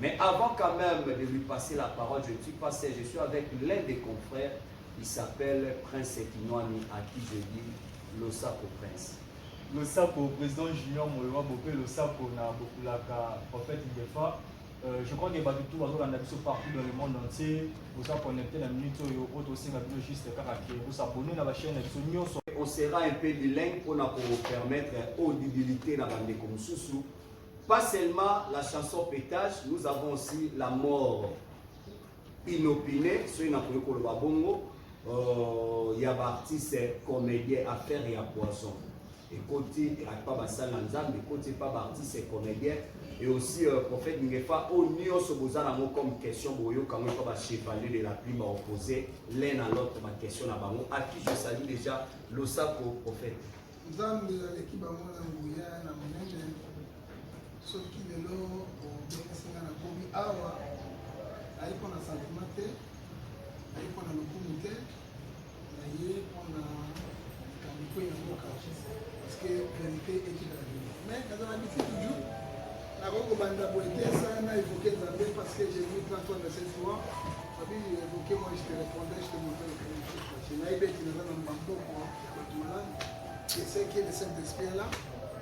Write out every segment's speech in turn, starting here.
Mais avant quand même de lui passer la parole, je ne suis pas seul, je suis avec l'un des confrères, il s'appelle Prince Kinwani, à qui je dis Losako Prince. Losako, président Junior Moyowa Bopé, Losako, na Bokulaka, prophète Ngefa. Euh, je crois que bato tout bazolanda biso partout dans le monde entier boza connecté na minute oyo oyo tosenga bino juste kaka ke bosabone na bachaine na biso nyonso on sera un peu bilingue mpona kopermettre audibilité na bandeko mosusu Pas seulement la chanson petage, nous avons aussi la mort inopinée, soki nakoki koloba bongo, euh, ya baartiste comédien affaire ya poisson ekoti epa basali na nzambe ekoti epa baartiste comédien et aussi euh, prophète ngefa oyo nyonso boza nango comme question boyoka yango epa bachevalier de la plume baopose l'un à l'autre baquestion na bango à qui je salue déjà losako prophète Nzambe aleki bango na nguya na monene. Soki lelo obengisi nga nakomi awa, naye mpo na santima te, naye mpo na lokumu te, naye mpo na likambo mpe ya mboka parce que verite ekita na bino mais nazala biti toujours nakoki kobanda boye te esala na évoqué nzambe parce que j'ai vu plein fois de cette fois babi évoqué moi je te répondais je te montrais le premier chose nayebi ete naza na mbamboko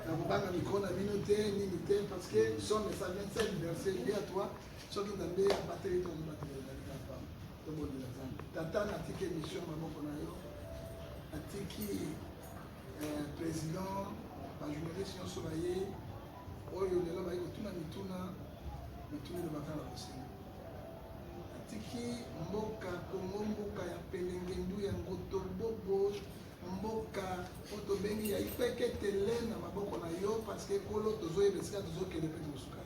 nakobanga mikro na bino te nini te parce que somme esa 27 verse ye ya toi soki nzambe abateli to mobatelelaa tobondela nzambe tata natiki émission maboko na yo natiki euh, président bajournaliste nyonso baye oyo lelo baye kotuna mituna mituna elobaka na bosenga Atiki mboka Congo mboka ya pelengendu ya ngoto bobo mboka oyo tobengi ya ipeketele na maboko na yo parceke ekolo tozoyeba esika tozokende mpe tokosuka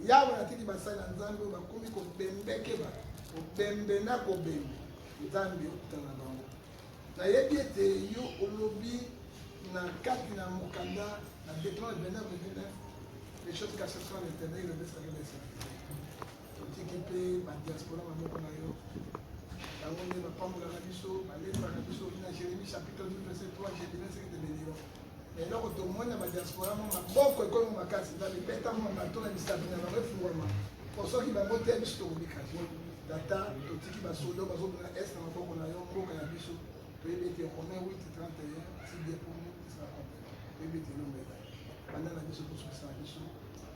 yawe atiki basali na nzambe oyo bakomi kobembeke bato kobembe na kobembe nzambe okutana bango Nayebi ete yo olobi na kati na mokanda na Deuteronome 29 29 les choses cachées sont à l'éternel, le reste avec les serviteurs. Totiki mpe badiaspora maboko na yo bango nde bapambolaka biso balembaka biso na jérémie chapitre 12 verset 3 je dirai ce que te béniront eloko tomoni na badiaspora mo maboko ekomi makasi na mibeta mo bato na misapi na bango efungwama po soki bango te biso tokobika te tata totiki basodo bazobina est na maboko na yo mboka ya biso toyebi ete romain 831 tideponi esala toyebi ete elomela banda na biso tosukisa na biso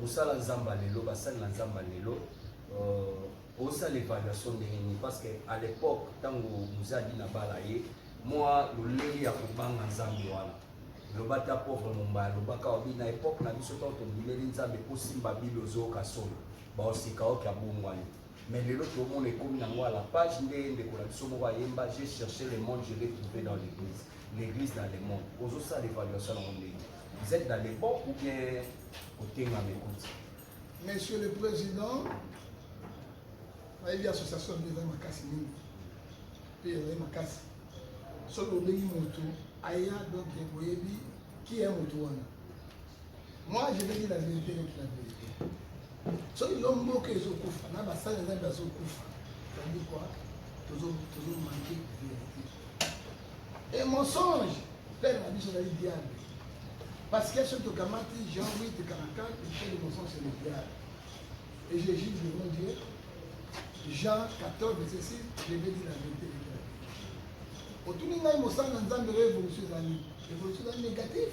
Bosala zamba lelo, basali na zamba lelo. Euh, osala evaluation ndenge nini? Parce que à l'époque ntango mozadi na bala ye mwa lolenge ya kobanga nzambe wana loba ta pauvre mombaya lobaka obi na epoque na biso ntango tondimeli nzambe osimba bile ozoyoka solo baosika oki abongwani mais lelo tomona ekomi nango à la page nde ndeko na biso moko ayemba j'ai cherché le monde je l'ai trouvé dans l'église l'église dans le monde ozosala évaluation yango ndenge Vous êtes dans les bons ou bien Otenga Mekouti Monsieur le Président, nayebi association nde ezali makasi mingi mpe ezali makasi soki obengi moto aya donc boyebi ki ya moto wana moi je vais dire la vérité donc la vérité soki yo mboka ezokufa na basali nzambe azokufa ezali kua tozomanke vérité Et mensonge, père na biso ezali diable. Parce que soki tokamati Jean 8, 44, péché de mensonge c'est le diable. Et je juge devant Dieu, Jean 14, verset 6, je vais dire la vérité. otuni ngai mosala na nzambe oyo évolution ezali évolution ezali négatif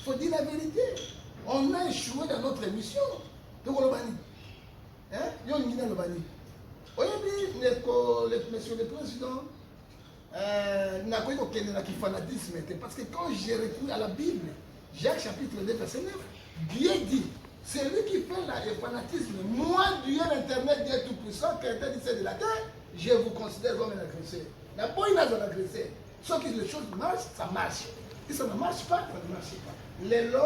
faut dire la vérité on a échoué dans notre émission tokoloba nini yo olingi naloba nini oyebi monsieur le président Euh, nakoki kokende na kifanatisme te parce que quand je recours à la bible jacques chapitre 2 verset 9 dieu dit celui qui fait la, le fanatisme moi dieu l'internet dieu tout puissant créateur du ciel de la terre je vous considère comme un agresseur naboyi nazala agresseur soki les choses marchent ça marche si ça ne marche pas ça ne marche pas lelo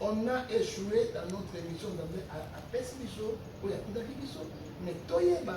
on a échoué dans notre émission nzambe apesi biso oyo akundaki biso mais toyeba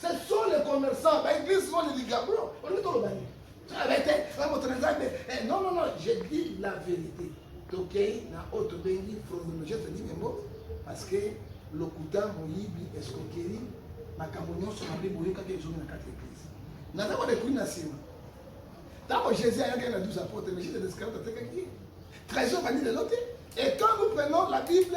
Ce sont les commerçants, ba églises sont les ligabros. On dit tout le monde. Ah, mais t'es, ah, mon trésor, mais, eh, non, non, non, je dis la vérité. Tokei na oto bengi chronologie te dit memo parce que lokuta moyibi escroquerie makambo nyonso mabe boyokaki ezongi na kati ya eglise naza kodekuli na nsima ntango jésus ayaki na 12 apôtre mais jésus descarate atekaki ye trésor bandi lelo te et quand nous prenons la bible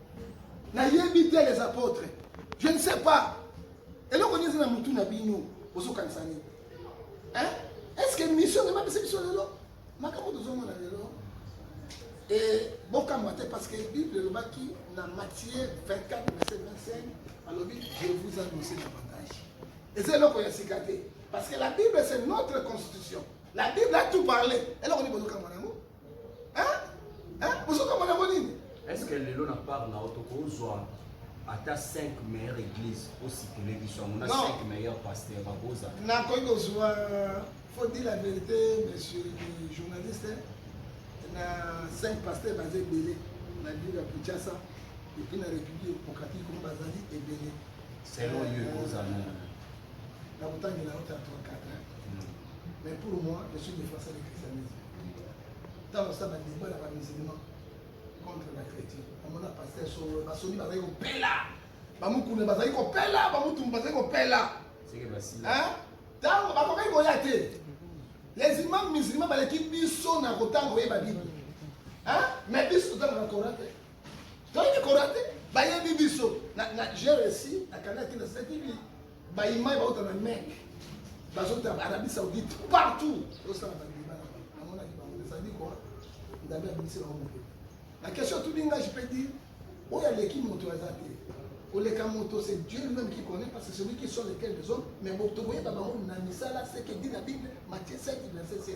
nayebi te les apôtres je ne sais pas eloko nini eza na mutu na bino ozokanisa nini est ce que mission emapesi biso lelo makambo tozomona lelo e bokamwa te parce que bible elobaki na matthieu 24 verset 25 alobi je vous annonce davantage eza eloko ya sika te parce que la bible c'est notre constitution la bible a tout parlé eloko nini bozokamwa na yango Hein? Hein? Bozo kama na nini? Est-ce que lelo na part na auto kozwa ata 5 meilleure église ositele biso yango na 5 meilleure pasteur bakoza nakoki kozwa faut dire la vérité monsieur le journaliste na 5 pasteur baza ebele na ville ya kinshasa epuis na république démocratique oyo bazali ebele selon yo ekozala na kotangi na ota 34 hein? Mm. mais pour moi je suis défenseur du christianisme ntango asala badeba na bamusulman contre bachrétien amona paster solo basoni bazali kopela bamokuna bazali kopela bamutumu bazali kopela ntango bakokaki koya te les imam musulman baleki biso na kotanga koyeba bible mais biso totangaka coran te toyini korate bayebi biso j'ai resi nakanaki nasalaki baimai bauta na mek bazota arabie saoudite partout osala badeba na bango namonaki bango ezali kwa nzambe abimisi bango moke na question tout dinga je peux dire oyo aleki moto aza te koleka moto c'est dieu lui-même qui connaît parce que celui qui sont lesquels les hommes mais moto koyeba bango na misala seke di na bible matie 7 verset 7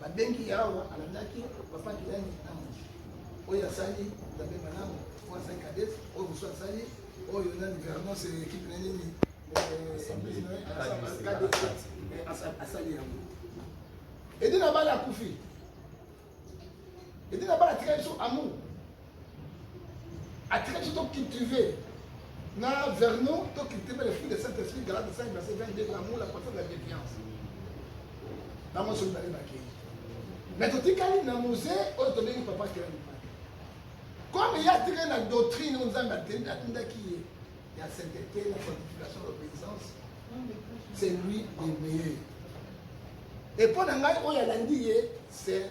babengi ye awa alandaki papa kilani ntango oyo asali nzambe malamu oyo asali kades oyo mosusu asali oyo na gouvernance ekipe na nini asali yango edi na bala akufi edi na bala atikali so amour atika biso tocultive na vernon tocultive le fruit de saint esprit galate 5 verset 22 l'amour la patience la défiance bango nyonso mibale bakei mais totikali na mose oyo tobengi papa kelani comme ye atikali na doctrine oyo nzambe atindaki ye ya sainteté la sanctification l'obéissance c'est lui le meilleur epo na ngai oyo alandi ye c'est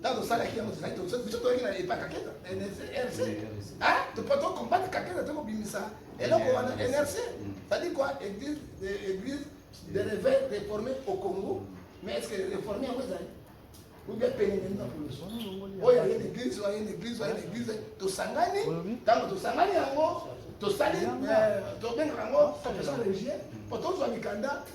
ntango osalaki yango tozalaki biso toyaki na epa kaketa na nrc topo tokombate kaketa te kobimisa eloko wana nrc cetadi kua église église de réveil réformé au congo mais est ce que réformé yango ezali oubien penene na poloso oyo aye na église oyo aye na église oyo aye na église tosangani ntango tosangani yango tosali tobengaka yango confession religieux mpo tozwa mikanda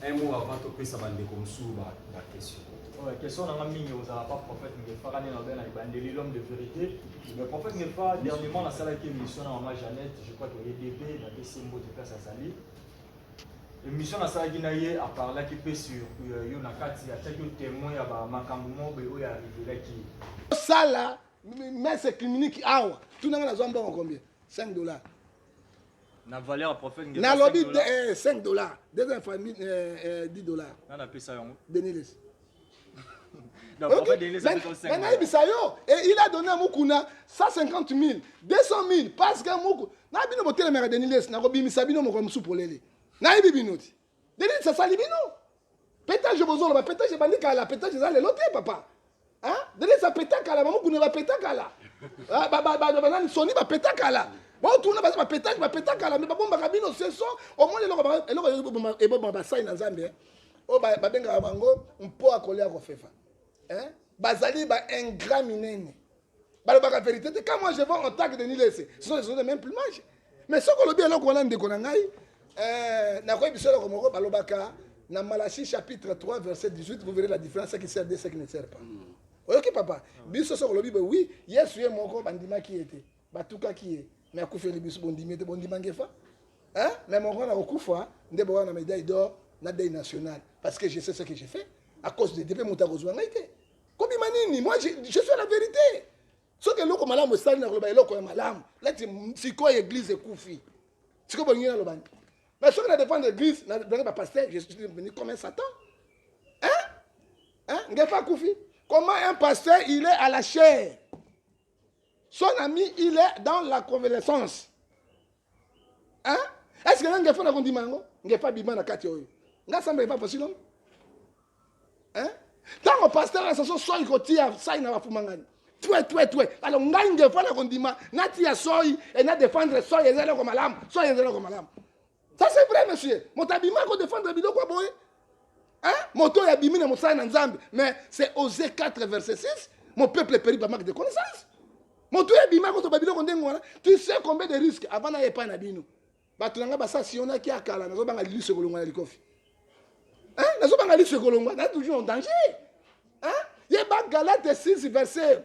Un mot avant topesa bandeko mosusu ba ba question. Ouais, question nanga mingi ozala pas prophète Ngefa kani na bena ibandeli l'homme de vérité. Le prophète Ngefa dernièrement nasalaki émission na maman Jeannette, je crois que ye DP na pesi ye mbote place azali. Émission nasalaki na ye a parlaki pe sur euh, yo na kati atiaki yo témoin ya ba makambo moko boye oyo arrivelaki ye. osala messe clinique awa tuna nga nazwa mbongo combien 5 dollars na valeur ya prophète ngeza nalobi 5 dollars. eh, 5 dollars deuxième famille eh, eh, 10 dollars na napesa yango denilesi Donc, Ok. prophète Denis, ça fait comme cinq Mais dollars. nayebisa yo et il a donné à mukuna 150 000 200 000 parce que muku na bino botelemaka denilesi nakobimisa bino mokolo mosusu polele nayebi bino ti Nde nini sasali bino? Petage bozoloba petage ebandi kala, petage eza lelo te papa. Hein? Nde nini sa peta kala, bamokuni ba peta kala. Ah, ba ba ba banani soni ba peta kala. Botuna baza ba petage ba peta kala, mais babombaka bino seso, omoni eloko ba eloko eboma eboma basai na Nzambe. Hein? Oyo ba babengaka bango mpo akolia kofefa. Hein? Bazali ba ingrat minene. balobaka verite te quand moi je vois en tant que denis lese ce sont les choses de même plumage mais soki olobi eloko wana ndeko na ngai euh, nakoyi biso eloko moko balobaka na malachi chapitre 3 verset 18 vous verrez la différence ce qui sert de ce qui ne sert pas mm. oyoki papa biso soki olobi boye wi yesu ye moko bandimaki ye te batukaki ye me akufeli biso bondimi ye te bondima ngefa me moko wana kokufa nde bowa na medaille d'or na deuil national parce que je sais ce que je fais à cause de depe moto akozwa ngai te kobima nini moi je, je suis la vérité soki eloko malamu esali na koloba eloko ya malamu lati sikoyo eglise ekufi sikoyo bolingi naloba nini mais soki na dépendre église na blangi bapaster je suis devenu comme un satan hein hein ngefa akufi comment un pasteur il est à la chair Son ami, il est dans la convalescence. Hein? Est-ce que nga ngefa na kondima yango? Ngefa bima na kati oyo. Nga samba epa possible. Hein? Tango pasteur ya saso soyi kotia sai na bafumangani. Twe twe twe. Alors nga ngefa na kondima natia soyi et na défendre soyi ezali ko malamu. Soyi ezali ko malamu. Ça c'est vrai monsieur. Moto abima ko défendre biloko boye. Hein? Moto ya bimi na mosala na Nzambe. Mais c'est Osée 4 verset 6, mon peuple périt par manque de connaissance. Moto ya bima ko to biloko ndenge wana. Tu sais combien de risques avant na epa na bino. Bato na ngai basa siona ki akala nazo banga lilusu ekolongwa na likofi. Hein? Nazo banga lilusu ekolongwa na toujours en danger. Hein? Yeba Galate 6 verset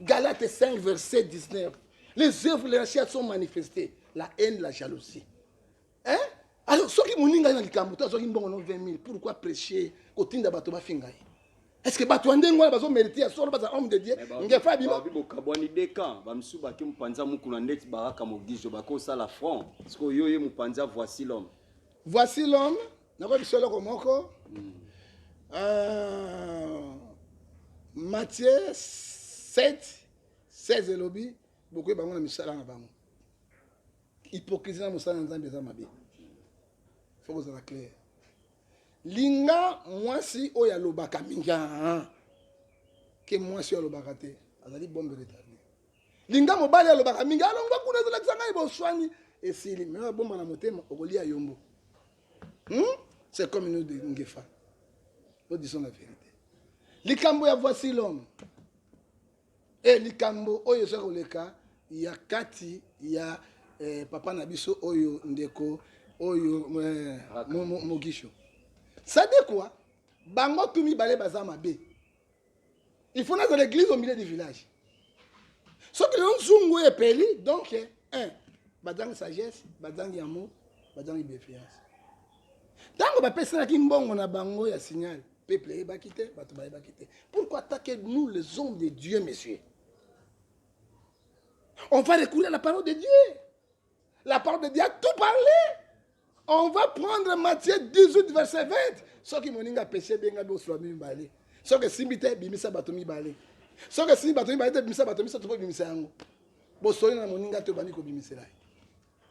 Galate 5, verset 19. Les œuvres de la chair sont manifestées. La haine, la jalousie. Hein? Alors, soki moninga na likambo to azwaki mbongo no 20 000, pourquoi prêcher kotinda bato bafinga ye? Est-ce que bato ya ndenge wana bazo merite ya solo baza homme de Dieu? Ngefa abima. Bokabwani de camp, bamisusu baki mopanzi ya mukuna ndeti baraka mogijo bakosala front. Sikoyo yo ye mopanzi ya voici l'homme. Voici l'homme. nakoyebi biso eloko moko mm. uh, matie 7 16 elobi bokoyi bango na misala na bango hypocrisie na mosala na nzambe eza mabe fo kozala claire linga mwasi oyo alobaka mingi ke mwasi oyo alobaka te azali bombe retarde linga mobali alobaka mingi alongwa kuna ezolakisa ngai boswani esili me abomba na motema okolia yombo hmm? c'est comme nous de ngefa nous disons la vérité likambo ya voici l'homme e likambo oyo eza koleka ya kati ya eh, papa na biso oyo ndeko oyo eh, mogisho sadekwa bango tu mibale baza mabe il faut nazala église au milieu du village soki lelo nzungu oyo epeli donc eh, un bazangi sagesse bazangi amour bazangi bienveillance ntango bapesanaki mbongo na bango ya signal peuple eyebaki te bato bayebaki te pourquoi attaquer nous les hommes de dieu monsieur on va recourir à la parole de dieu La parole de Dieu a tout parlé. On va prendre Matthieu 18, verset 20. soki moninga apeshe ebenga bosula mibale soki esimbi te bimisa bato mibale soki esimbi bato mibale te bimisa bato misato mpo bimisa yango bosoli na moninga te obandi kobimisela ye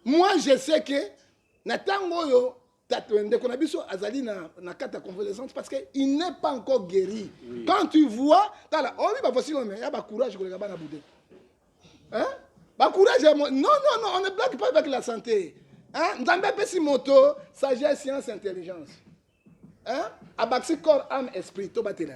moi je sais ke na ntango oyo Tato ndeko na biso azali na na kata convalescence parce que il n'est pas encore guéri. Oui. Quand tu vois tala obi oh ba voici mais ya ba courage koleka bana boude. Hein? Ba courage non non non on ne blague pas avec la santé. Hein? Nzambe apesi moto sagesse science intelligence. Hein? Abakisi corps âme esprit to batela.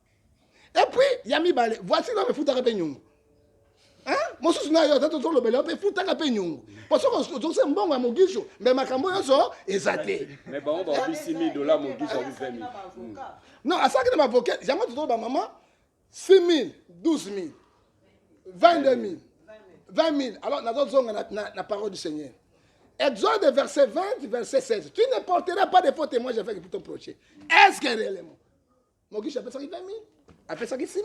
Et puis, ya mibale, voici na mefutaka pe nyongo. Hein? Mosusu na yo tata tozolobela yo pe futaka pe nyongo. Po soko ozokisa mbongo ya mogisho, mais makambo nyonso eza te. Mais bango ba obisi 1000 dollars mogisho abu 20000. Non, asaki na mavoka, yango tozoloba maman 6000, 12000, 22000, 20000. Alors nazozonga na, na, na parole du Seigneur. Exode verset 20, verset 16. Tu ne porteras pas de faux témoins avec ton prochain. Est-ce que réellement mokishi apesaki 20000 apesaki 6000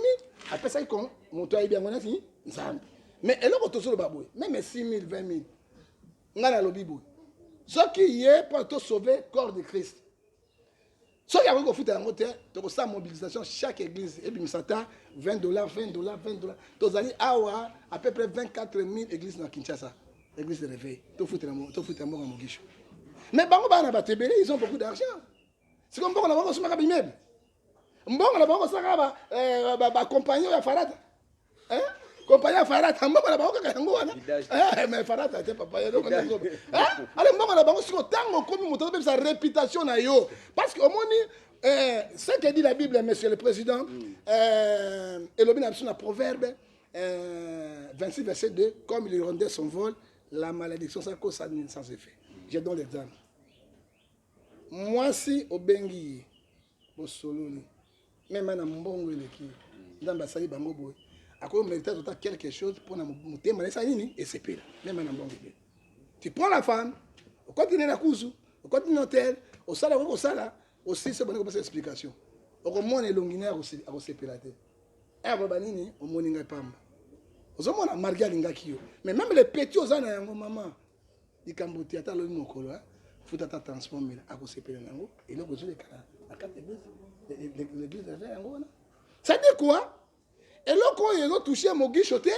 apesaki kon moto ayebi yango nati nzambe mais eloko tozoloba boye meme 6000 20000 ngai nalobi boye soki ye mpo tosauve corps de christ soki akoki kofuta yango te tokosala mobilisation chaque église ebimisa ata 20 dollar 20 dollar 20 dollar tozali awa à peu près 24 000 église na kinshasa église de réveil tofutela mboka mogisho mais bango bana bato ebele ils ont beaucoup d'argent siko mbongo na bango kosomaka bimebe mbongo na bango kosalaka ba, eh, ba, ba compagnon ya farata eh? compagnon ya farata mbongo na bango kaka yango wana eh, mais farata te papa eloko na zoba eh? ale mbongo na bango siko ntango okomi moto azobebisa réputation na yo parce que omoni eh, ce que dit la bible monsieur le président mm. eh, elobi na biso na proverbe eh, 26 verset 2 comme il rendait son vol la malédiction ça cause sans effet je donne l'exemple Muasi obengi ye bosololi meme ana mbongo eleki nzambe asali bango boye ako merite azwa ata quelque chose mpo na motema na esala nini esepela meme ana mbongo ebele tu prends la femme okoti ne na kuzu okoti ne hotel osala okoki kosala osilisi obandi kopesa explication okomona elongi naye akosepela te aya baba nini omoni ngai pamba ozomona marge alingaki yo mais meme le petit oza na yango mama likambo te ata alobi mokolo hein futa ata transport mbele akosepela na yango eloko ezwi lekala na kati l'église aza yango wana cetadire quoi eloko oyo ezotouche mogisho te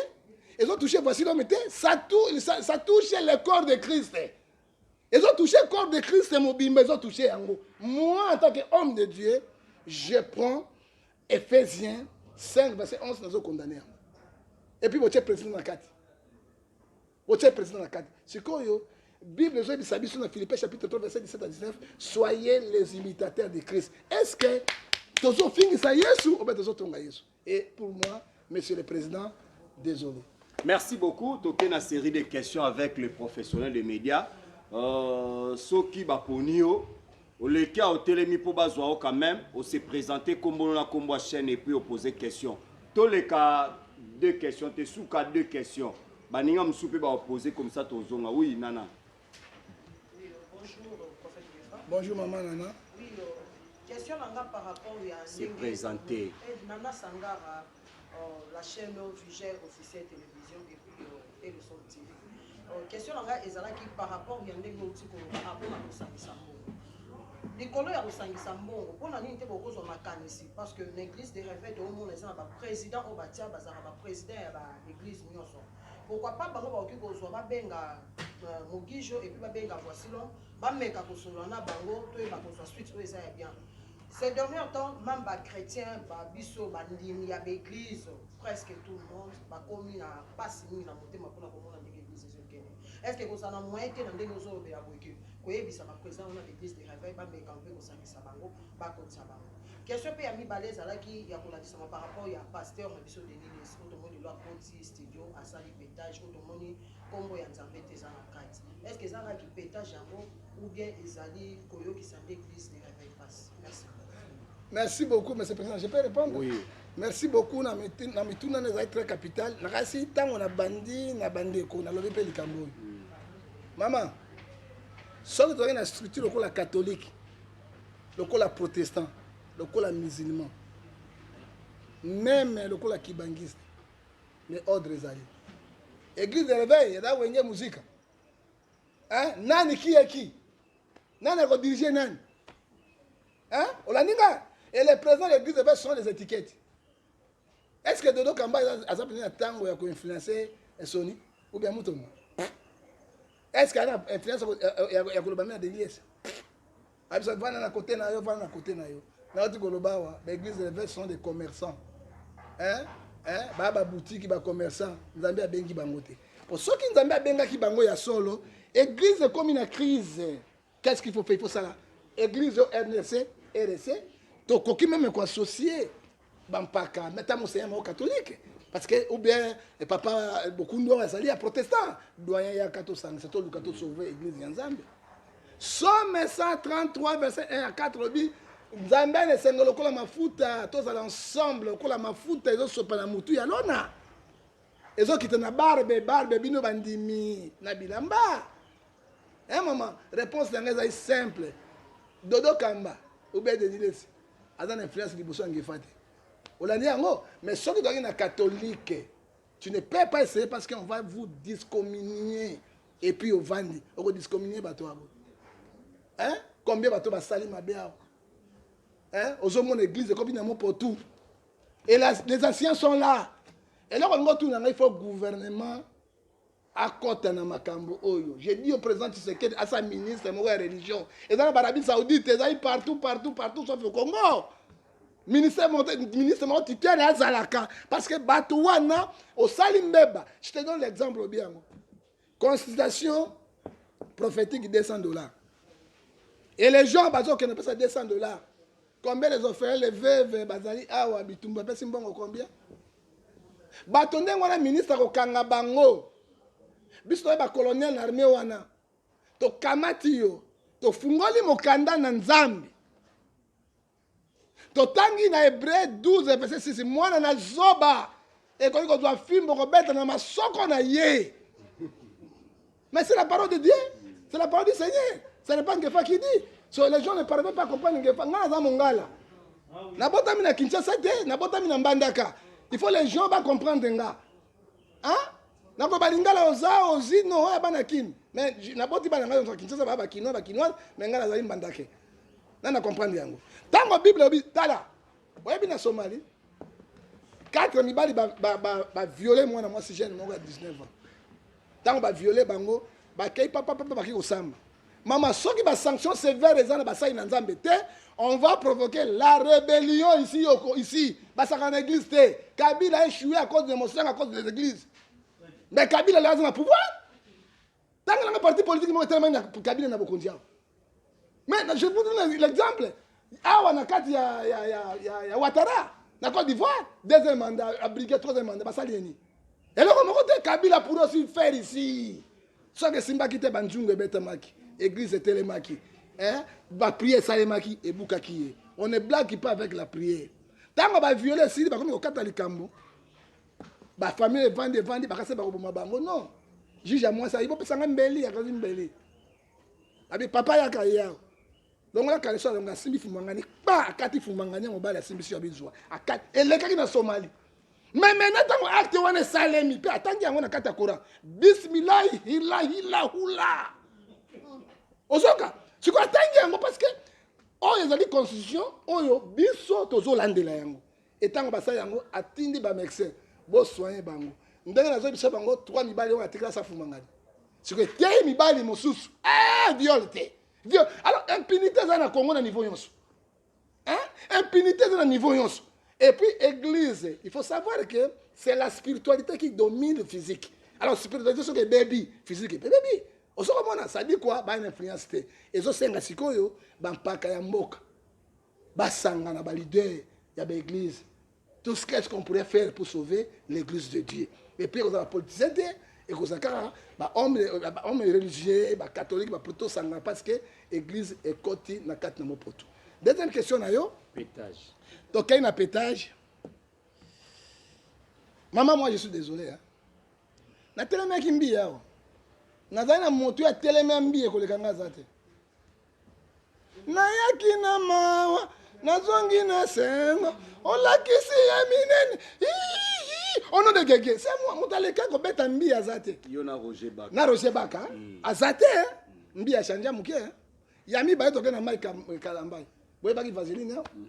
ezotouche vasilome te ça touche le corps de christ ezotouche corps de christ mobimba ezotouche yango moi en tant que homme de dieu je prends ephésiens 5 verset 11 nazokondane yango epuis botie précision na kati otie president na kati sikoyo bible ezoyebisa biso na philippe chapitre 3 verset 17 à 19 soyez les imitateurs de christ est ce que tozofingisa yesu obe tozotonga yesu et pour moi monsieur le président désolé merci beaucoup toke na série de questions avec le professionnel de médias euh, soki baponi yo Oleki awa otelemi po bazwa yo quand meme o se presenter kombo no na kombo ya chaine et puis o poser question toleka deux questions te suka deux questions baninga mosusu pe bako poser comme ça tozonga oui nana Bonjour maman Nana. Oui, euh, question nanga par rapport ya se présenter. Nana Sangara Oh, la chaîne oh, Viger officiel télévision et puis oh, et le son TV. Oh, question na ngai ezalaki par rapport ya ndenge outi koloba apona kosangisa mbongo likolo ya kosangisa mbongo mpo na nini te bokozwa makanisi parce que na église de réveil toomona eza na baprésident oyo batia bazalaka baprésident ya baéglise nyonso pourquoi pas bango bakoki kozwa babenga euh, mogijo epuis babenga voisilon bameka kosolola na bango toyeba kozwa suite oyo eza ya bien Ces derniers temps meme ba chretiens ba biso ba ndimi ya ba eglise presque tout le monde ba komi na pasi mingi na motema pona ko mona ndenge eglise ezo kende est ce que kozala na moyen te na ndenge ozo lobela boye que ko yebisa ba president wana l'eglise de reveil ba meka un peu ko sangisa bango ba kotisa bango question pe ya mibale ezalaki ya ko lakisama par rapport ya pasteur na biso Denis Lessi oyo tomoni lelo akoti studio asali petage oyo tomoni kombo ya Nzambe te eza na kati est ce que eza kaka ki petage yango ou bien ezali koyokisa eglise de reveil pasi merci merci beaucoup monsieur président je peux répondre oui. merci beaucoup na mituna na ezali très capital nakasi ntango na bandi na bandeko nalobi mpe likambo oyo mama soki tozalaki na structure lokola catholique lokola protestant lokola musulman meme lokola kibangiste mais ordre ezali église de réveil eza wenge muzika eh, nani kieki nani akodirige nani eh, olandi nga et le président de l'église va changer les étiquettes est ce que dodo kamba aza mpenza na ntango ya koinfluence soni ou bien mutombo est ce que ana influence ya koloba mpe na deliese Absa vanda na kote na yo vanda na kote na yo nauti koloba awa ba église de l'évêque sont des commerçants hein hein ba ba boutique ba commerçants nzambe abengi bango te po soki nzambe abengaki bango ya solo église ekomi na crise qu'est-ce qu'il faut faire il faut sala église au RDC RDC tokoki meme ko associer bampaka me ata mosenya moko katolike parce que ou bien eh, papa eh, bokundu oyo azali ya protestant doyen yaka tosangisa toluka tosauve église ya nzambe somme 133 verset 1 ya 4 lobi nzambe ana esengo lokola mafuta tozala ensemble lokola mafuta ezosopa na motu ya lona ezokita na barbe barbe bino bandimi na bilamba e eh, mama réponse na ngai ezali simple dodo kamba oubien denilesi aza na influence liboso ya ngefa te olandi yango mais soki ozalaki na catholique tu ne peux pas essayer parce qu'on va vous discommunier et puis ovandi okodiscommunier bato yango hein? combien bato basali mabe awa hein? ozomona église ekomi na mopo tout et la, les anciens sont là eloko lingo tuna ngai faut gouvernement Akota na makambo oyo. Je dis au president Tshisekedi asa ministre moko ya religion. Eza na barabi saoudite, eza yi partout, partout, partout, sauf au Congo. Ministre moko, ministre moko titulaire azalaka. Parce que bato wana, osali mbeba. Je te donne l'exemple obi yango. Consultation prophétique 200 dollars. Et les gens, bazo kena pesa 200 dollars. Combien les offerts, les veuves, bazali awa, bitumba, pesi mbongo combien? bato ndenge wana ministre akokanga bango biso toye bacolonel na arme wana tokamati yo tofungoli mokanda na nzambe totangi na hebreu 12 verset 6 mwana na zoba ekoki kozwa fimbo kobeta na masoko na ye Mais c'est la parole de Dieu, c'est la parole du Seigneur. Ce n'est pas Ngefa qui dit. So, les gens ne parviennent pas à comprendre Ngefa. Nga aza mongala. Nabotami na Kinshasa te, nabotami na Mbandaka. Il faut les gens ba comprendre nga. Hein? Nako balingala oza ozi no ya bana kin. Mais naboti bana nga na Kinshasa ba ba kinois ba kinois, mais nga nazali Mbandake. Na na comprendre yango. Tango Bible obi tala. Boyebi na Somalie. Quatre mibali ba ba ba, ba violer mwana mwasi jeune moko ya 19 ans. tango ba viole bango bakei papa papa baki kosamba mama soki ba sanction sévère eza na basali na nzambe te on va provoquer la rébellion ici yoko ici basaka na église te kabila a échoué à cause de mosanga à cause des églises mais kabila le aza na pouvoir tanga nanga parti politique moko etelemani na kabila na bokonzi awa Mais je vous donne l'exemple. Awa na kati ya, ya, ya, ya, ya Ouattara, na Côte d'Ivoire, deuxième mandat, à briguer troisième mandat, basali yeni. Et le moko te Kabila pour aussi faire ici. Ce que Simba qui te banjungu et betamaki, église et télémaki, hein, ba prière salemaki et boukaki. On ne blague pas avec la prière. Tango ba violer sili ba komi okata likambo. Ba famille vande vande ba kase ba koboma bango non. Juge à moi ça, il faut pesanga mbeli, akazi mbeli. Abi papa yaka yao. Longola kaleso alonga asimbi fumangani. Ba akati fumangani ya mobali asimbi sio abizwa. Akati elekaki na Somalie. Mais maintenant ntango acte wana esalemi mpe atangi yango na kati ya Coran. Bismillahi hilahi lahula. Ozoka sikoyo atangi yango parce que oyo ezali constitution oyo biso tozolandela yango. Et tango basali yango atindi ba médecin bo soigner bango. Ndenge nazo bisa bango trois mibali oyo atikala sa fumangani. Siko eteyi mibali mosusu. Eh viol te. Viol. Alors impunité eza na Congo na niveau yonso. Hein? Impunité eza na niveau yonso. Et puis église, il faut savoir que c'est la spiritualité qui domine le physique. Alors spiritualité soki ebebi, physique ebebi. Osokomona ça dit quoi? Ba influence te. Ezosenga sikoyo ba mpaka ya mboka. basangana ba leader ya ba église tout ce qu'est-ce qu'on pourrait faire pour sauver l'église de Dieu et puis ekozala politicien te ekozala kaka ba homme ba homme religieux ba catholique ba poto sangana parce que église ekoti na kati na mopoto deuxième question na yo pétage tokei na pétage mama moi je suis désolé hein? natelemaki mbiye awa nazali na moto ya teleme ya mbiye koleka nga aza te Nayaki na mawa, nazongi na sengo, olakisi ya minene. Au nom de Gege, c'est moi, moto aleka kobeta mbi aza te. Yo na Roger Baka. Na Roger Baka, mm. aza te. Mm. Mbi achanje ya moke. Ya mibale toke na Mike Kalambayi. Boyebaki vaseline yao? Mm.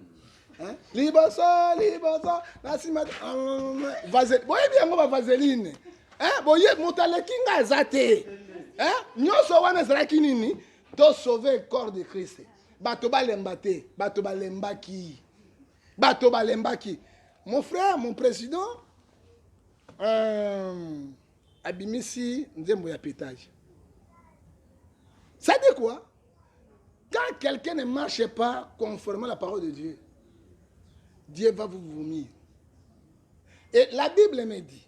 Hein? Liboso, liboso, na sima vaseline. Boyebi yango ba vaseline. Hein? Boye moto aleki nga aza te. Hein? Nyoso wana ezalaki nini? To sauver corps de Christ. Bato balemba te, bato balembaki. Bato balembaki. Mon frère, mon président, euh, abimisi nzembo ya pétage. Ça dit quoi Quand quelqu'un ne marche pas conformément à la parole de Dieu, Dieu va vous vomir. Et la Bible me dit,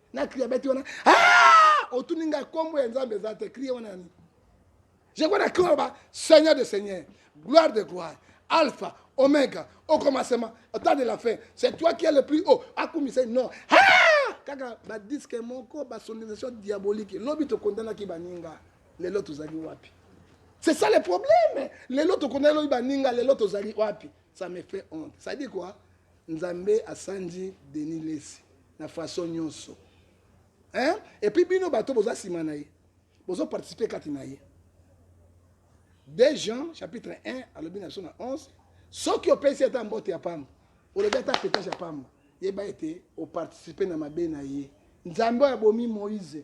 na crie abeti wana ah! otuni ngai kombo ya nzambe eza te crie wana yani je kona crie aloba seigneur de seigneur gloire de gloire alpha omega au commencement au temps de la fin c'est toi qui est le plus haut akumisa non ah! kaka badiske moko basonorisation diabolique lobi tokondanaki baninga lelo tozali wapi c'est ça le problème lelo tokondanaki baninga lelo tozali wapi ça me fait honte ça dit quoi Nzambe asanji Denis lessi na façon nionso hein et puis bino bato boza sima na ye bozo participer kati na ye de Jean chapitre 1 alobi na biso na 11 soki opesi ata mbote ya pamba olobi ata petage ya pamba yeba ete oparticipe na mabe na ye nzambe oyo abomi moïse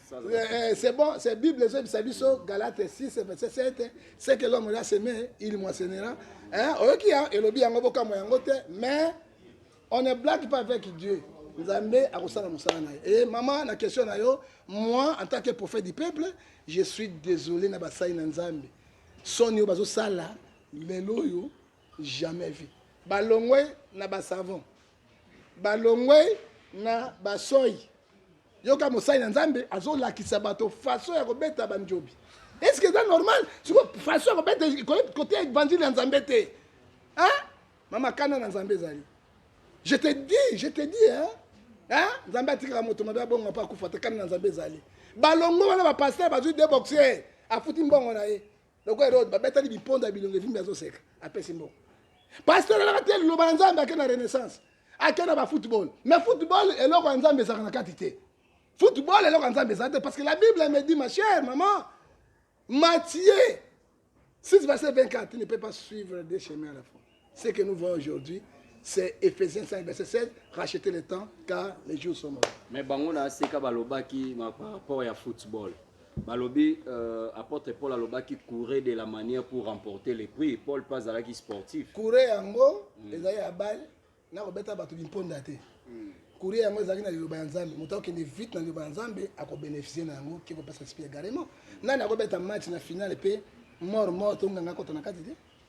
Eh, c'est bon, c'est Bible, c'est Bible, Galates 6, verset 7, c'est que l'homme l'a semé, il moissonnera. Hein? Ok, hein? et le bien, on va mais on ne blague pas avec Dieu. nzambe akosala mosala na ye e mama na question na yo moi en tant que prophète du peuple je suis désolé na basali na nzambe soni oyo bazosala lelo oyo jamais vu balongwe na basavon balongwe na basoyi yoka mosali na nzambe azolakisa bato faso ya kobeta banjobi eske eza normal siko faso ya kobeta kote ya evanzile ya nzambe te mama kanda na nzambe ezali je te dis je te dis hein? nzambe atikaka moto mabe abongo mpe akufa te kanda na nzambe ezali balongo wana bapaster bazwi de boxer afuti mbongo na ye lokola erode babetaki biponda ya bilongi evimbi azoseka apesi mbongo pasteur elaka te liloba ya nzambe ake na renaissance ake na bafootball mais football eloko ya nzambe ezalaka na kati te football eloko ya nzambe eza te parce que la bible me dit ma chère maman matie 6 verset 24 tu ne peux pas suivre des chemins à la fois Ce que nous voyons aujourd'hui, c'est Ephésiens 5, verset 16, rachetez le temps car les jours sont mauvais. Mais bango na seka balobaki ma- par rapport ya football balobi euh, apôtre paul alobaki courir de la manière pour remporter le prix paul mpe azalaki sportif Courrier yango ezali ya bale na kobeta bato bimponda te. Courrier yango ezalaki na liloba ya Nzambe. Moto akokende vite na liloba ya Nzambe akobenefisie na yango ke kopesa sipi egarement. Nani akobeta match na finale mpe mort mort to nganga akota na kati te?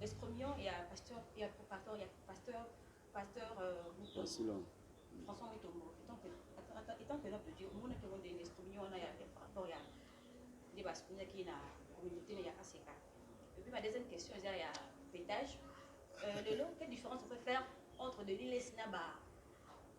Escromion ya pasteur ya pardon ya pasteur pasteur euh, Mutombo. François Mutombo étant que étant que l'homme de Dieu on a que on des escromion on a ya par rapport ya des bas on a qui na communauté ya ACK. Et puis ma deuxième question c'est ya pétage. Euh, le long quelle différence on peut faire entre de l'ILES na ba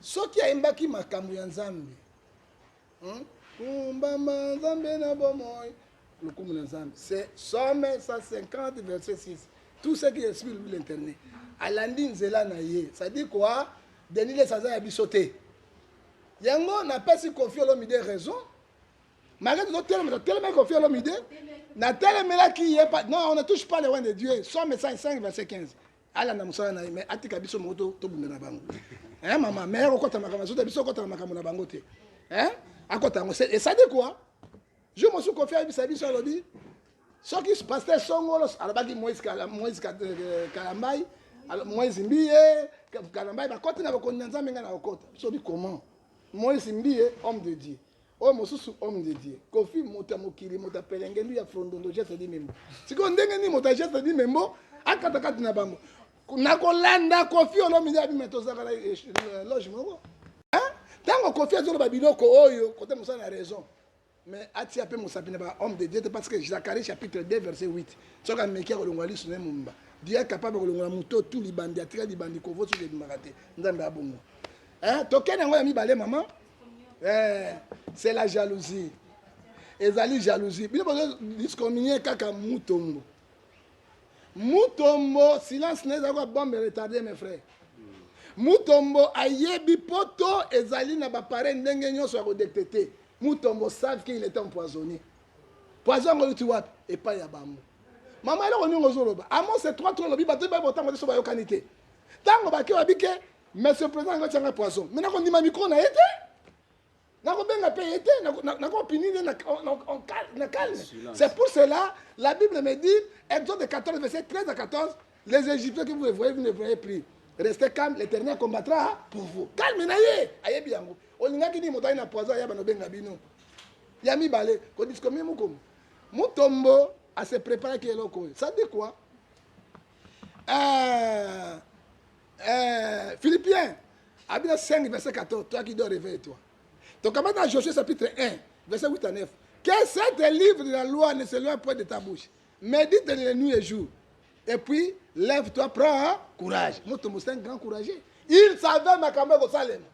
Soki ayembaki makambo ya Nzambe hmm? kumbama Nzambe na bomoi lokumu na Nzambe c'est somme 150 verset 6 tout ce qui est sur l'internet alandi nzela na ye c'est-à-dire quoi Denis Lesa aza ya biso te yango napesi Koffi Olomide raison malgré tozotelema totelemaki Koffi Olomide natelemelaki ye non on ne touche pas le roi de Dieu somme 105 verset 15 alanda mosala na ye mais atika biso moko to tobunda na bango eh mama mais akokota makambo azo ta biso okota na makambo na bango te eh akota yango c'est ça de quoi je me suis confié ayebisa biso alobi soki pasteur songolo alobaki moïse moïse euh, kalambai moïse mbiye kalambai bakoti na bokonzi na nzambe ngai na kokota soki comment moïse mbiye homme de dieu oyo mosusu homme de dieu kofi moto ya mokili moto ya pelengendu ya frondondo geste di membo sikoyo ndenge nini moto ya geste di membo akata kati na bango na kolanda kofi olomide abima tozalaka na eh, eh, loge moko ntango kofi azoloba biloko oyo kote mosala na raison mais atia mpe mosapi na ba homme de dieu te parce que zacharie chapitre 2 verset 8 soki ameki akolongola liso na ye momba dieu est capable kolongola moto tu libandi atika libandi kovosi ebimaka te nzambe abongo tokende yango ya mibale mama eh, c'est la jalousie ezali jalousie bino bazo discomine kaka mutombo mutombo silence na ezali kwa bombe retarde mes frères mutombo ayebi poto ezali na bapareil ndenge nyonso ya kodetecte mutombo save ke il est empoisonné poison yango euti wapi epai ya bango mama eloko ndenge ozoloba amonse trois to olobi bato baye botango te so bayokani te ntango bake babi ke Monsieur President ngai tianga poison. Mais nako ndima micro na yete. Nako benga pe yete, nako pini ne na na calme. C'est pour cela la Bible me dit Exode 14 verset 13 à 14, les Égyptiens que vous voyez, vous ne voyez plus. Restez calme, l'Éternel combattra pour vous. Calme na ye, ayebi yango. Olingaki ni moto na poison ya bano benga bino. Ya mibale, ko discommie mukomo. Mutombo à se préparer qui est loco. Ça dit quoi? Euh Eh, Philippien, Abia 5, verset 14, toi qui dois réveiller toi. Donc, comment dans Josué chapitre 1, verset 8 à 9, que cet livre de la loi ne s'éloigne point de ta bouche, médite de nuit et jour, et puis lève-toi, prends courage. Motombo, c'est un grand courageux. Il savait makambo ya kosalema.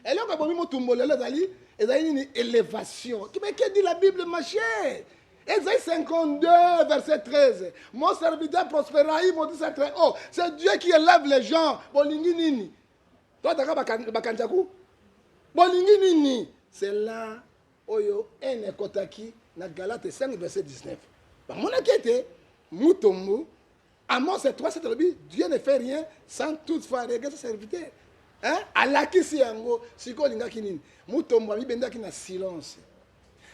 Eloko ebomi motumbo lelo ezali ezali nini élévation. Mais que dit la Bible, ma chère? Ésaïe 52, verset 13. Mon serviteur prospérera, il maudit très haut. Oh, c'est Dieu qui élève les gens. Bolingi nini? Toi, t'as bakanjaku? Bolingi nini? C'est là, oyo, en ekotaki, na Galate 5, verset 19. Bamonaki ete, mutombo, Amos 3 alobi Dieu ne fait rien sans toutefois regarder sa serviteur. Hein? Alakisi yango sikoyo olingaki nini? Mutombo amibendaki na silence.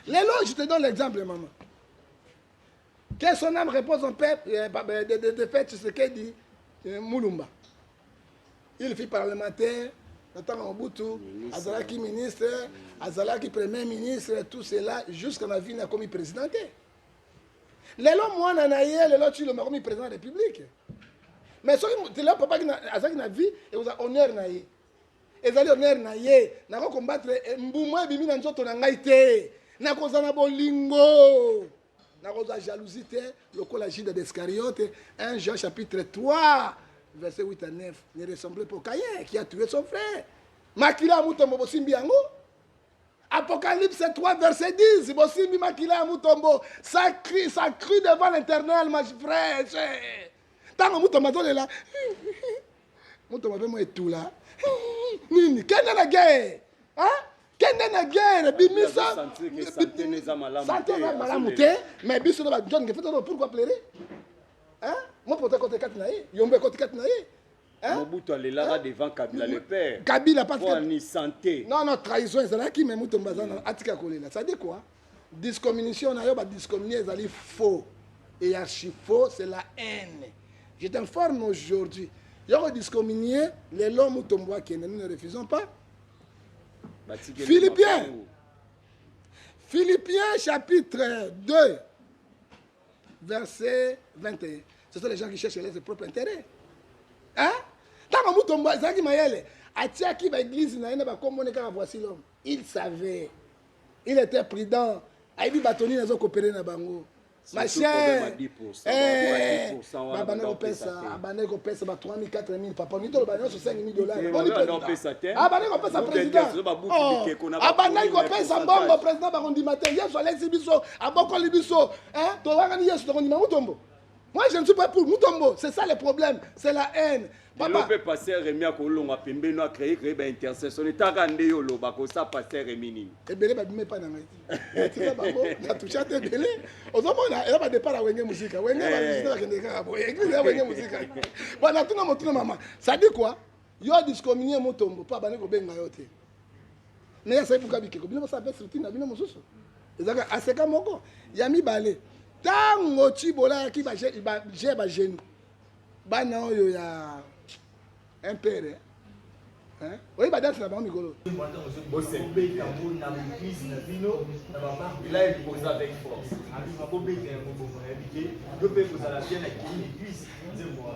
Lelo je te donne l'exemple maman. Que son âme repose en paix euh, euh, de, de, de fait ce que dit euh, Mulumba. Il fut parlementaire na ntango Mobutu azalaki ministre, azalaki premier ministre, tout cela jusqu'à la vie nakomi président te. lelo mwana na ye lelo tshilombo akomi président ya république mais soki lelo papa azalaki na vie ekozala honneur na ye ezali honneur na ye nako combattre eh, mbuma ebimi na nzoto na ngai te nakozala na bolingo nakozwa jalousie te lokola juda d'escariote 1 jean chapitre 3 verset 8 à 9 ne ressemble pas au cayen qui a tué son frère makila ya motombo bosimbi yango Apocalypse 3, verset 10. Bosimbi makila ya mutombo. Ça crie, ça crie devant l'éternel, ma frère. Tango mutombo azolela. Mutombo pe mo etula. Nini? Kende na guerre. Hein? kende na guerre bimisa sante eza malamu te mais biso na bajohn ngefetano pourquoi plere mo pota ekoti kati na ye yombo ekoti kati na ye Hein? Mobutu alelaka hein? devant Kabila le père. Kabila parce que ni santé. Non non trahison ezalaki mais mutu mbazana atika kolela. Ça dit quoi? Discommunication na yo ba discommunier ezali faux. Et archi faux c'est la haine. Je t'informe aujourd'hui. Yoko discommunier les lois mutombo akende nous ne refusons pas. Philippien. Philippiens chapitre 2 verset 21 ce sont les gens qui cherchent leur propre intérêt hein ntango mutombo ezalaki mayele atiaki baeglize na ye na bakomone kaka voici l'homme il savait il était prudent ayebi bato nini azokopere na bango machebandaki kopesa abandaki kopesa ba 3000 4000 papa nini toloba nyonso 5000 dollarsabandaki kopesa présidentabandaki kopesa mbongo président bakondima te yesu alesi biso abokoli biso eh, toyangani yesu tokondima mutombo moi je ne suis pas pour mutombo c'est ça le problème c'est la haine lelo mpe paster remi akolonga pembeni no acreye kreye baintercession etaka nde yo oloba kosa paster remi nini ebele babima epai na ngai natika bango natushe ata ebele ozomona eza badepart ya wenge mosika wenge bakende kaka boye eglise ya wenge mosika banatuna motuna mama sadi kua Yo discommunier mutombo pa bani kobenga yo te. Na ya sai buka bikeko bino basa pe structure na bino mususu. Ezaka aseka moko ya mibale. Tango Chibola yaki ba je ba je ba jeune. Bana oyo ya impere. Hein? Oyi ba dance na bango mikolo. Bose beta bo na bise na bino na ba marque. Il a imposé avec force. Abi ba bobeta ya mobongo ya bite. Yo pe kozala bien na kini bise. Nzembo.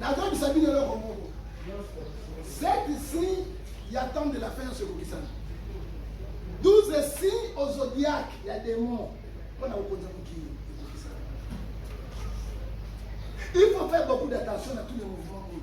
nazoyebisa bino eloko moko cette signe ya temps de la fin nyonso ekokisana 12 signe au zodiaque ya démon mpo na kokonza mokili ekokisana il faut faire beaucoup d'attention na tous les mouvements oyo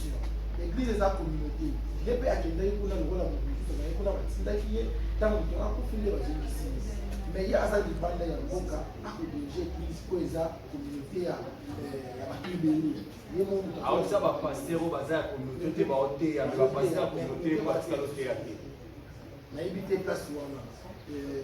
eglise eza communauté ye mpe akendaki kuna lokola moto mosusu naye kuna batindaki ye ntango moto akufi nde bazongisi ye mais ye aza libanda ya mboka akodirige eglise mpo eza communauté ya eh, bakibeli ye moaosa bapaster oyo baza ya communauté te baoteya bapaster ya communauté batika loteya te nayebi te place wana eh,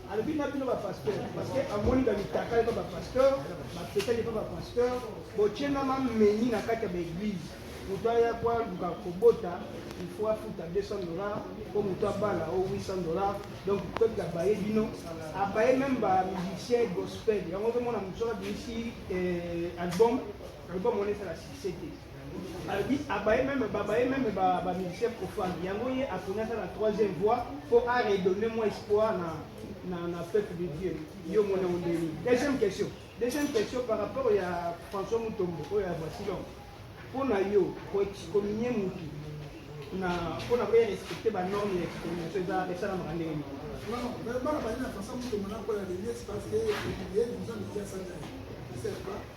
alobi na bino bapasteur parceke amoni bamitaka epa bapasteur bapetaki epa bapasteur botyena mameni na kati ya baeglize moto aya po aluka kobota ifo afuta 200 dollar mpo moto abala o 800 dollar donc peuple abaye bino abaye meme bamusicien gospel yango ozomona moto soki abimisi eh, album album wana esala succès te alobi abaye meme babaye meme bamusicien profane yango ye aponi aza na troisième voix mpo a redonne moi espoir na na, na peuple de dieu yo mona yango ndeni deuxième question deuxième question par rapport ya françois mutombo oyo ya basilon mpo na yo koexcominie motu na mpo na koya respecte banorme ya excomination eza esalamaka ndenge nini bana bali na françois mutombo nakoya lelies parce que ye déjà mikiasana ye c'est pas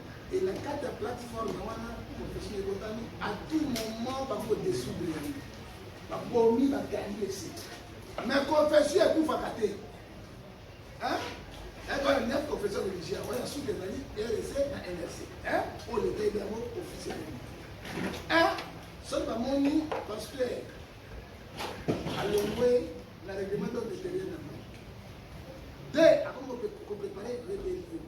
Et na kati ya plateforme wana confession ekotami à tout moment bako desoudre yango babomi bakangi esi mais confession ekufaka te ekola neuf confession religieux yango ya suka ezali rc na nrc oyo leta yebi yango officiellement soki bamoni pasteur alongwe na règlement d'ordre intérieur na bango te akomi koprepare rebellion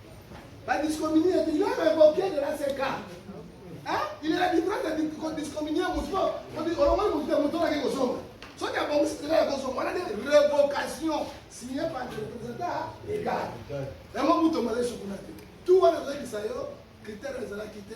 Ba discommunie et il est révoqué de la CK. Hein? Il est la différence de discommunie mutu olongoli mutu te mutu olaki kozonga. Soki abongisi nzela ya kozonga wana nde révocation signée par le représentant légal. Yango mutu omale sukuna te. Tout wana ezalakisa yo critère ezalaki te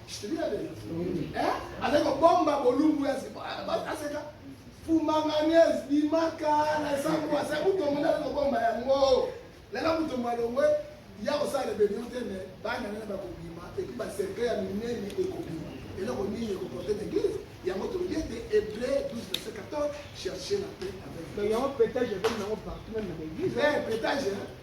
Eh? azali kobomba bolumbu ya aseka fumanganies bimaka na esango asa mutombo nde azali kobomba yango lelo mutombo alongwe ya kosala rebellion te me bana nene bakobima epuis baserkle ya minene ekobima eloko nini ekoporte na eglise yango tolobi ete hebreu 12 verset 14 cherche la paix avec yango petage ekomi nango partout meme na baeglise petage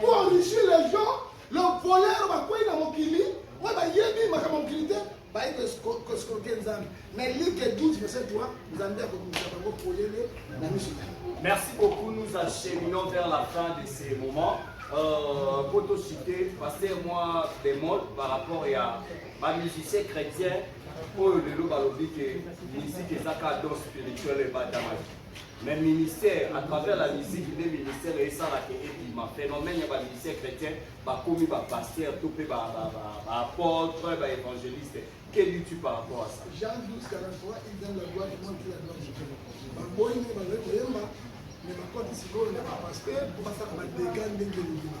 Pour enrichir les gens, le voleur bakwei na mokili oyo bayebi makambo mokili te baye koskoke nzambe mais like 12 verset 3 nzambe akobimisa bango polele na miso na merci beaucoup nous acheminons vers la fin de ce moment euh, po tosite paster mwa bemol par rapport ya bamusicien chrétien oyo lelo balobi ke musike ezaka don spirituel ebatamaki mais ministère à travers la musique nde ministère esalaka ebima phénomène ya bamusicien chrétien bakomi bapasteur to mpe baapôtre baévangéliste que dis-tu par rapport à ça jean 12 43 il donne la gloire du monde qui la gloire de dieu baboyi nde bazali koyemba mais bakoti sikoyo na bapasteur mpo basala badega ndenge elobima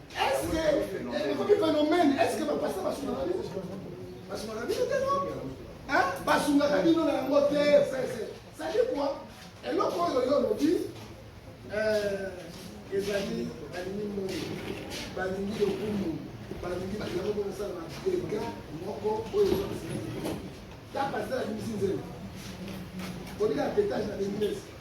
Est-ce que ekomi phénomène? Est-ce que ba pasteur ba sunga bino? Ba sunga bino te non? Hein? Ba sunga bino na yango te. Ça dit quoi? Eloko oyo yo lobi euh ezali balingi moi balingi lokumu balingi balingi kosala na dega moko oyo ezokisi ta pasteur abimisi nzela olika petage na benginesi